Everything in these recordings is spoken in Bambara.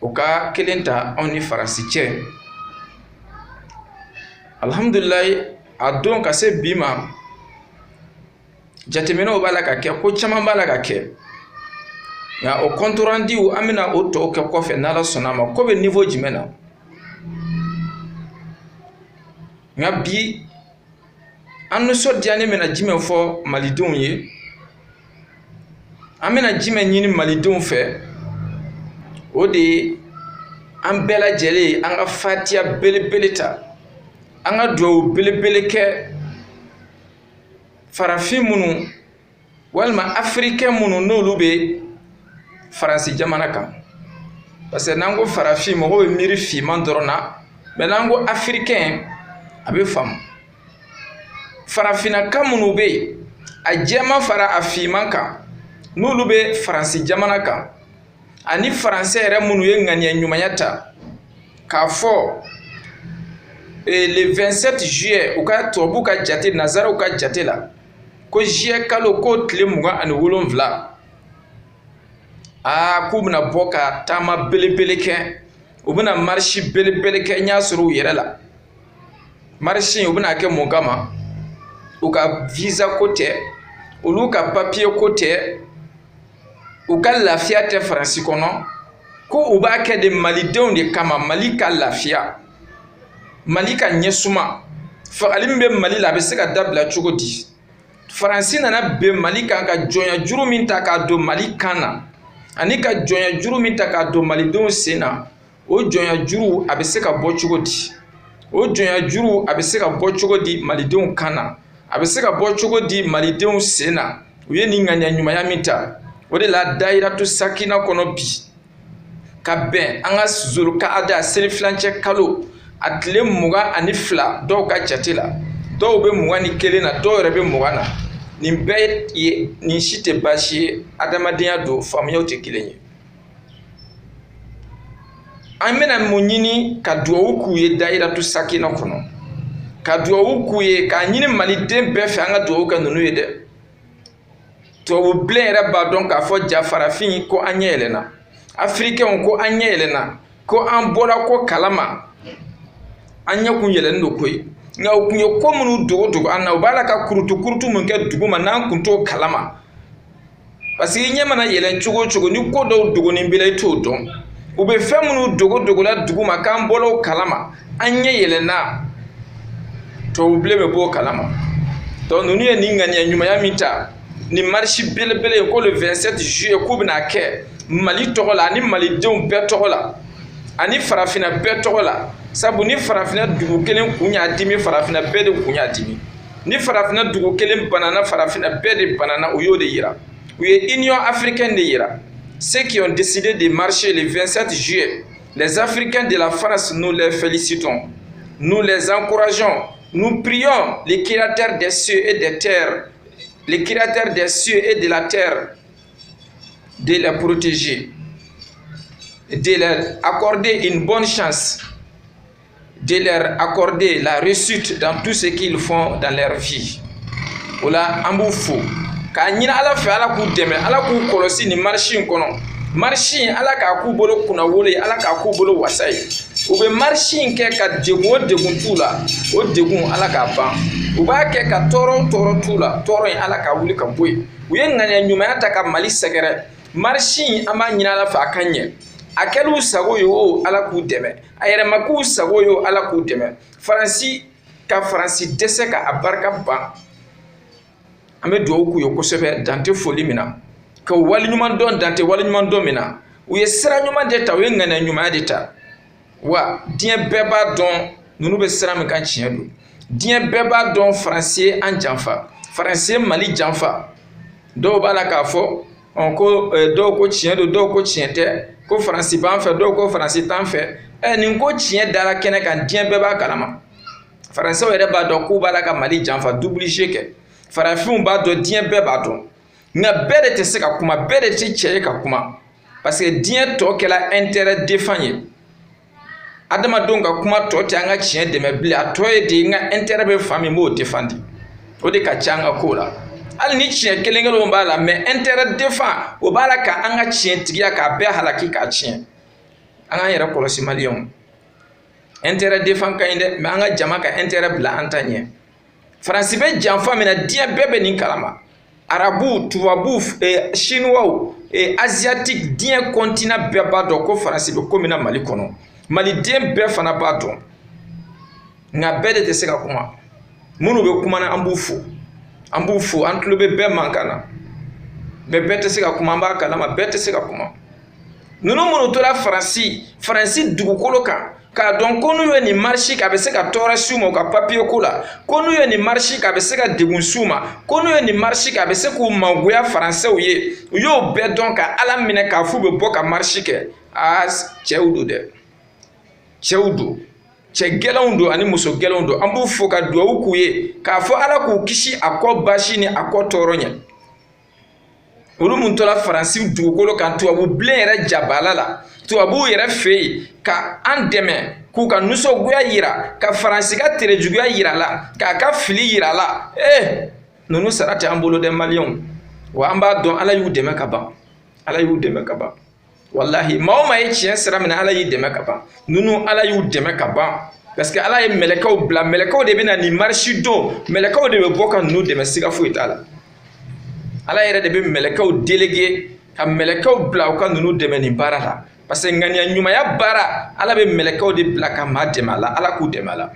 o ka kelen ta anw ni faransi cɛ alihamudulilayi a don ka se bi ma jateminɛw b'a la ka kɛ ko caman b'a la ka kɛ nka o kɔntorandiw an bɛna o tɔw kɛ kɔfɛ n'ala sɔnna a ma ko bɛ niveau jumɛn na nka bi an nisɔndiyalen bɛna jumɛn fɔ malidenw ye an bɛna jumɛn ɲini malidenw fɛ o de ye an bɛɛ lajɛlen an ka fatiya belebele ta an ka dugawu belebele kɛ farafin minnu walima afirikɛn minnu n'olu bɛ faransi jamana kan parce que n'an ko farafin mɔgɔ bɛ miiri finman dɔrɔn na mais n'an ko afirikɛn a bɛ faamu farafinnaka minnu bɛ yen a jɛman fara a finman kan n'olu bɛ faransi jamana kan ani faransɛ yɛrɛ minnu ye ŋaniya ɲumanya ta k'a fɔ eh, le 27 juillet u ka tubabuw ka jate nazaraw ka jate la ko juillet kalo k'o tile mugan ani wolonfila aa k'u bɛna bɔ ka taama belebele kɛ u bɛna marisi belebele kɛ n y'a sɔrɔ u yɛrɛ la marisi u bɛna a kɛ mun kama u ka visa ko tɛ olu ka papiye ko tɛ u ka lafiya tɛ faransi kɔnɔ ko u b'a kɛ de malidenw de kama mali ka lafiya mali ka ɲɛsuma fagali min bɛ mali la a bɛ se ka dabila cogo di faransi nana bin mali kan ka jɔnya juru min ta k'a don mali kan na ani ka jɔnya juru min ta k'a don malidenw sen na o jɔnya juru a bɛ se ka bɔ cogo di o jɔnya juru a bɛ se ka bɔ cogo di malidenw kan na a bɛ se ka bɔ cogo di malidenw sen na u ye nin ŋaniya ɲumanya min ta o de la dayiratu sakina kɔnɔ bi ka bɛn an ka zulukaada selifilancɛ kalo a tile mugan ani fila dɔw ka jate la dɔw bɛ mugan ni kelen na dɔw yɛrɛ bɛ mugan na nin bɛɛ ye nin si tɛ baasi ye adamadenya don faamuyaw tɛ kelen ye an bɛna mun ɲini ka duwawu k'u ye dayiratu sakina kɔnɔ ka duwawu k'u ye k'a ɲini maliden bɛɛ fɛ an ka duwawu kɛ ninnu ye dɛ tubabu bilen yɛrɛ b'a dɔn k'a fɔ jaa farafin ko an ɲɛ yɛlɛnna afirikɛnw ko an ɲɛ yɛlɛnna ko an bɔra ko kalama an ɲɛ kun yɛlɛnnen don koyi nka u kun ye ko minnu dogo dogo an na u b'a la ka kurutu kurutu minnu kɛ duguma n'an kun t'o kalama parce que i ɲɛ mana yɛlɛn cogo o cogo ni ko dɔw dogonin b'i la i t'o dɔn u bɛ fɛn minnu dogo dogola duguma k'an bɔla o kalama an ɲɛ yɛlɛnna tɔw bilen bɛ bɔ o kalama donc ninnu ye nin ŋaniya ɲumanya min ta nin marisi belebele in ko le 27 juillet k'u bɛn'a kɛ mali tɔgɔ la ani malidenw bɛɛ tɔgɔ la ani farafinna bɛɛ tɔgɔ la sabu ni farafinna dugu kelen kun y'a dimi farafinna bɛɛ de kun y'a dimi ni farafinna dugu kelen banana farafinna bɛɛ de banana u y'o de yira u ye union africaine de yira ceux qui ont décidé de marcher le 27 juillet les africains de la france nous les félicitons nous les encourageons nous prions les créateurs des cieux et des terres les créateurs des cieux et de la terre de les protéger de leur accorder une bonne chance de leur accorder la réussite dans tout ce qu'ils font dans leur vie o la an b'u fo k'a ɲini ala fɛ ala k'u dɛmɛ ala k'u kɔlɔsi nin marisi in kɔnɔ marisi in ala k'a k'u bolo kunnawolo ye ala k'a k'u bolo wasa ye u bɛ marisi in kɛ ka degun o degun t'u la o degun ala k'a ban u b'a kɛ ka tɔɔrɔ o tɔɔrɔ t'u la tɔɔrɔ in ala k'a wuli ka bɔ yen u ye ŋaniya ɲumanya ta ka mali sɛgɛrɛ marisi in an b'a ɲini ala fɛ a ka ɲɛ a kɛl'u sago ye o ala k'u dɛmɛ a yɛrɛ ma k'u sago ye o ala k'u dɛmɛ faransi ka faransi dɛsɛ ka a barika ban an bɛ dugawu k'u ye kosɛbɛ dan tɛ foli min na k'u waliɲuman dɔn dan tɛ waliɲuman dɔn min na u ye sira ɲuman de ta u ye ŋaniya ɲumanya de ta wa diɲɛ bɛɛ b'a dɔn ninnu bɛ sira min kan tiɲɛ don diɲɛ bɛɛ b'a dɔn faransi ye an janfa faransi ye mali janfa dɔw b'a la k'a fɔ ɔ ko eh, dɔw ko tiɲɛ don dɔw ko tiɲɛ tɛ ko faransi b'an fɛ dɔw ko faransi t'an fɛ ɛ eh, nin ko tiɲɛ dara kɛnɛ kan diɲɛ bɛɛ b'a kalama faransɛw yɛrɛ b'a dɔn k'u b'a la ka mali janfa double jeu kɛ farafinw b'a dɔn diɲɛ bɛɛ b'a dɔn nka bɛɛ de tɛ se ka kuma bɛɛ de tɛ cɛ ye ka kuma parce que diɲɛ tɔ kɛla intérêt défend ye adamadenw ka kuma tɔ tɛ an ka tiɲɛ dɛmɛ bilen a tɔ ye de n ka intérêt bɛ fan min b'o défendre o de ka ca an ka ko la hali ni tiɲɛ kelen kelenw b'a la mais intérêt défend o b'a la ka an ka tiɲɛ tigiya k'a bɛɛ halaki k'a tiɲɛ an k'an yɛrɛ kɔlɔsi maliyɛnw intérêt défend ka ɲi dɛ mais an ka jama ka intérêt bila an ta ɲɛ faransi bɛ janfa min na diɲɛ bɛɛ bɛ nin kalama arabuw tubabuw eh, sinuwaw eh, asiatique diɲɛ continent bɛɛ b'a dɔn ko faransi bɛ ko min na mali kɔnɔ maliden bɛɛ fana b'a dɔn nka bɛɛ de tɛ se ka kuma minnu bɛ kuma na an b'u fo an b'u fo an tulo bɛ bɛɛ mankan na mais bɛɛ tɛ se ka kuma an b'a kalama bɛɛ tɛ se ka kuma ninnu minnu tora faransi faransi dugukolo kan k'a dɔn ko n'u ye nin marisi k'a bɛ se ka tɔɔrɔ s'u ma u ka papiye ko la ko n'u ye nin marisi k'a bɛ se ka degun s'u ma ko n'u ye nin marisi k'a bɛ se k'u mangoya faransɛw ye u y'o bɛɛ dɔn ka ala minɛ k'a f'u bɛ bɔ ka marisi kɛ aa cɛw don dɛ cɛw don cɛ gɛlɛnw don ani muso gɛlɛnw don an b'u fo ka dugawu k'u ye k'a fɔ ala k'u kisi a kɔ baasi ni a kɔ tɔɔrɔ ɲɛ olu min tora faransi dugukolo kan tubabu bilen yɛrɛ jabala la tubabuw yɛrɛ fɛ yen ka an dɛmɛ k'u ka nisɔngoya yira ka faransi ka terejuguya yira la k'a ka fili yira la ee ninnu sara tɛ an bolo dɛ maliyɛnw wa an b'a dɔn ala y'u dɛmɛ ka ban ala y'u dɛmɛ ka ban walahi maa o maa ye tiɲɛ sira minɛ ala y'i dɛmɛ ka ban ninnu ala y'u dɛmɛ ka ban parce que ala ye mɛlɛkɛw bila mɛlɛkɛw de bɛ na nin marisi don mɛlɛkɛw de bɛ bɔ ka ninnu dɛmɛ siga foyi t'a la ala yɛrɛ de bɛ mɛlɛkɛw delege ka mɛlɛkɛw bila u ka ninnu dɛmɛ nin baara la parce que ŋaniya ɲumanya baara ala bɛ mɛlɛkɛw de bila ka maa dɛmɛ a la ala k'u dɛmɛ a la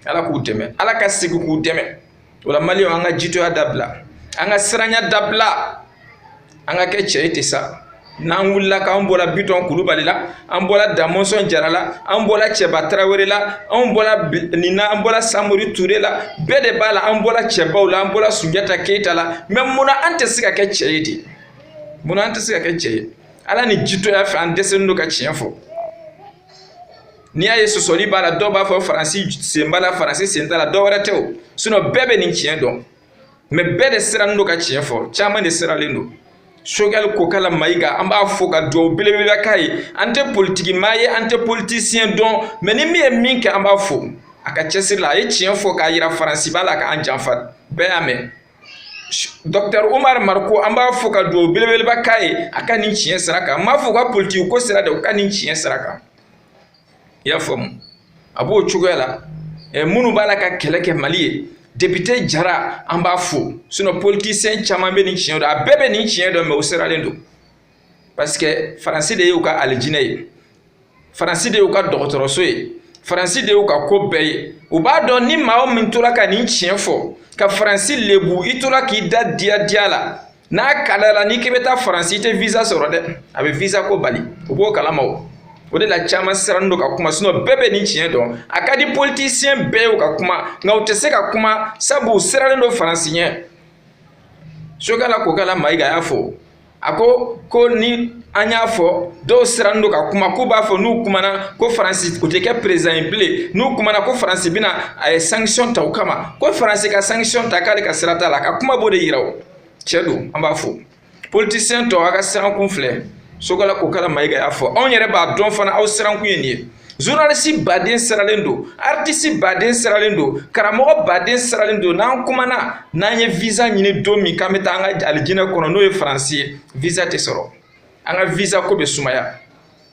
ala k'u dɛmɛ ala ka segin k'u dɛmɛ o la maliyɛnw an ka jitoya dabila an ka siranya dabila an ka kɛ cɛ ye ten sa n'an wulila k'an bɔra bitɔn kulubali la an bɔra damɔnsɔn jara la an bɔra cɛba tarawele la an bɔra nin na an bɔra samori ture la bɛɛ de b'a la an bɔra cɛbaw la an bɔra sunjata keyita la mɛ mun na an tɛ se ka kɛ cɛ ye de mun na an tɛ se ka kɛ cɛ ye ala ni jitoya fɛ an dɛsɛlen don ka tiɲɛ fɔ n'i y'a ye sɔsɔli b'a la dɔw b'a fɔ faransi sen b'a la faransi sen t'a la dɔ wɛrɛ tɛ o sinɔn bɛɛ bɛ nin tiɲɛ dɔn mɛ bɛɛ de sirannen don ka tiɲɛ fɔ caman de siralen don sogɛli kokala mayiga an b'a fo ka duwawu belebeleba k'a ye an tɛ politiki maa ye an tɛ politisiyɛn dɔn mɛ ni min ye min kɛ an b'a fo a ka cɛsiri la a ye tiɲɛ fɔ k'a yira faransi b'a la k'an janfa bɛɛ y'a mɛn dɔktɛr umar mariko an b'a fo ka duwawu belebeleba k'a ye a ka nin tiɲɛ sira kan n m'a fɔ u ka politiki ko sira dɛ u ka nin tiɲɛ sira kan i y'a faamu a b'o cogoya la ɛ minnu b'a la ka kɛlɛ kɛ mali ye depite jara an b'a fo sinɔn politisiyɛn caman bɛ nin tiɲɛ dɔn a bɛɛ bɛ nin tiɲɛ dɔn mɛ u siralen don parce que faransi de y'u ka alijinɛ ye faransi de y'u ka dɔgɔtɔrɔso ye faransi de y'u ka ko bɛɛ ye u b'a dɔn ni maa o min tora ka nin tiɲɛ fɔ ka faransi lebu i tora k'i da diya diya la n'a kalayala n'i k'i bɛ taa faransi i tɛ visa sɔrɔ dɛ a bɛ visa ko bali u b'o kalama o o de la caman sirannen don ka kuma sinɔn bɛɛ bɛ nin tiɲɛ dɔn a ka di politisiyɛn bɛɛ ye u ka kuma nka u tɛ se ka kuma sabu u sirannen don faransi ɲɛ sogɛli kokala mayiga y'a fɔ a ko ko ni an y'a fɔ dɔw sirannen don ka kuma k'u b'a fɔ n'u kumana ko faransi u tɛ kɛ perezidan ye bilen n'u kumana ko faransi bɛna a ye sankisiyɔn ta u kama ko faransi ka sankisiyɔn ta k'ale ka sira t'a la a ka kuma b'o de yira o cɛ don an b'a fo politisiyɛn tɔw a ka sirankun filɛ choguel kokala mayiga y'a fɔ anw yɛrɛ b'a dɔn fana aw sirankun ye nin ye journalisi baden siralen don artisi baden siralen don karamɔgɔ baden siralen don n'an kumana n'an ye visa ɲini don min k'an bɛ taa an ka alijinɛ kɔnɔ n'o ye faransi ye visa tɛ sɔrɔ an ka visa ko bɛ sumaya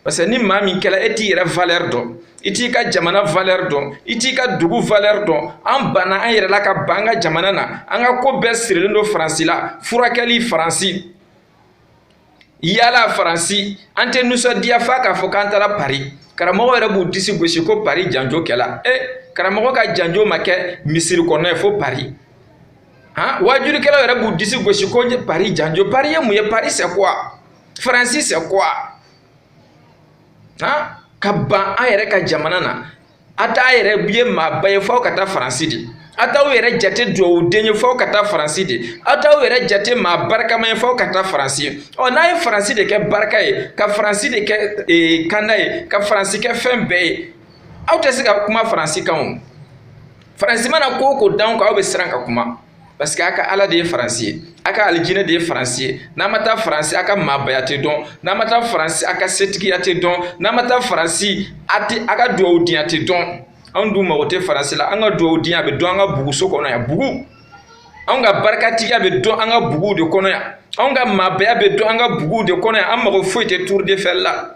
parce que ni maa min kɛla e t'i yɛrɛ valeur dɔn i t'i ka jamana valeur dɔn i t'i ka dugu valeur dɔn an banna an yɛrɛ la ka ban an ka jamana na an ka ko bɛɛ sirilen don faransi la furakɛli faransi yala faransi an tɛ nisɔndiya f'a k'a fɔ k'an taara pari karamɔgɔ yɛrɛ b'u disi gosi ko pari janjo kɛla e karamɔgɔ ka janjo ma kɛ misiri kɔnɔna ye fo pari han waajulikɛlaw yɛrɛ b'u disi gosi ko pari janjo pari ye mun ye pari c'est quoi faransi c'est quoi han ka ban an yɛrɛ ka jamana na a t'a yɛrɛ ye maaba ye f'aw ka taa faransi de a t'aw yɛrɛ jate dugawuden ye f'aw ka taa faransi de a t'aw yɛrɛ jate maa barikama ye f'aw ka taa faransi ye ɔ n'a ye faransi de kɛ barika ye ka faransi de kɛ ee kanda ye ka faransi kɛ fɛn bɛɛ ye aw tɛ se ka kuma faransi kan o faransi mana ko o ko d'an kan aw bɛ siran ka kuma parce que a ka ala de ye faransi ye a ka alijinɛ de ye faransi ye n'a ma taa faransi a ka maabaya tɛ dɔn n'a ma taa faransi a ka setigiya tɛ dɔn n'a ma taa faransi a tɛ a ka duwawudenya tɛ dɔn anw dun mago tɛ faransi la an ka duwawudenya bɛ dɔn an ka buguso kɔnɔ yan bugu anw ka barikatigiya bɛ dɔn an ka buguw de kɔnɔ yan anw ka maabaya bɛ dɔn an ka buguw de kɔnɔ yan an mago foyi tɛ tour d'eiffel la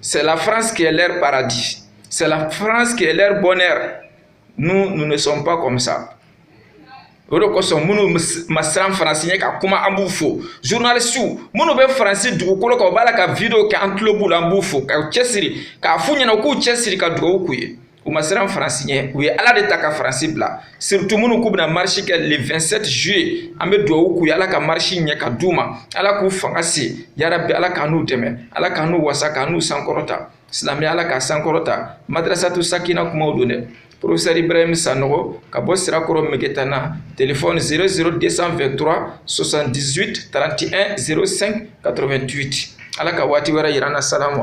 C'est la France qui est leur paradis. C'est la France qui est leur bonheur. Nous, nous ne sommes pas comme ça. o de kosɔn minnu ma siran faransi ɲɛ ka kuma an b'u fo journalisiw minnu bɛ faransi dugukolo kan u b'a la ka video kɛ an tulo b'u la an b'u fo ka cɛsiri k'a f'u ɲɛna u k'u cɛsiri ka dugawu k'u ye u ma siran faransi ɲɛ u ye ala de ta ka faransi bila surtout minnu k'u bɛna marisi kɛ le 27 juillet an bɛ dugawu k'u ye ala ka marisi ɲɛ ka d'u ma ala k'u fanga se yarabi ala k'an n'u dɛmɛ ala k'an n'u wasa k'an n'u sankɔrɔta silamɛya ala k'a sankɔrɔta madrasatu sakina kumaw don dɛ professeur ibrahim sanogo ka bɔ sirakɔrɔ megetana telefɔni 00223 78 31 05 88 ala ka waati wɛrɛ yir'an na salamu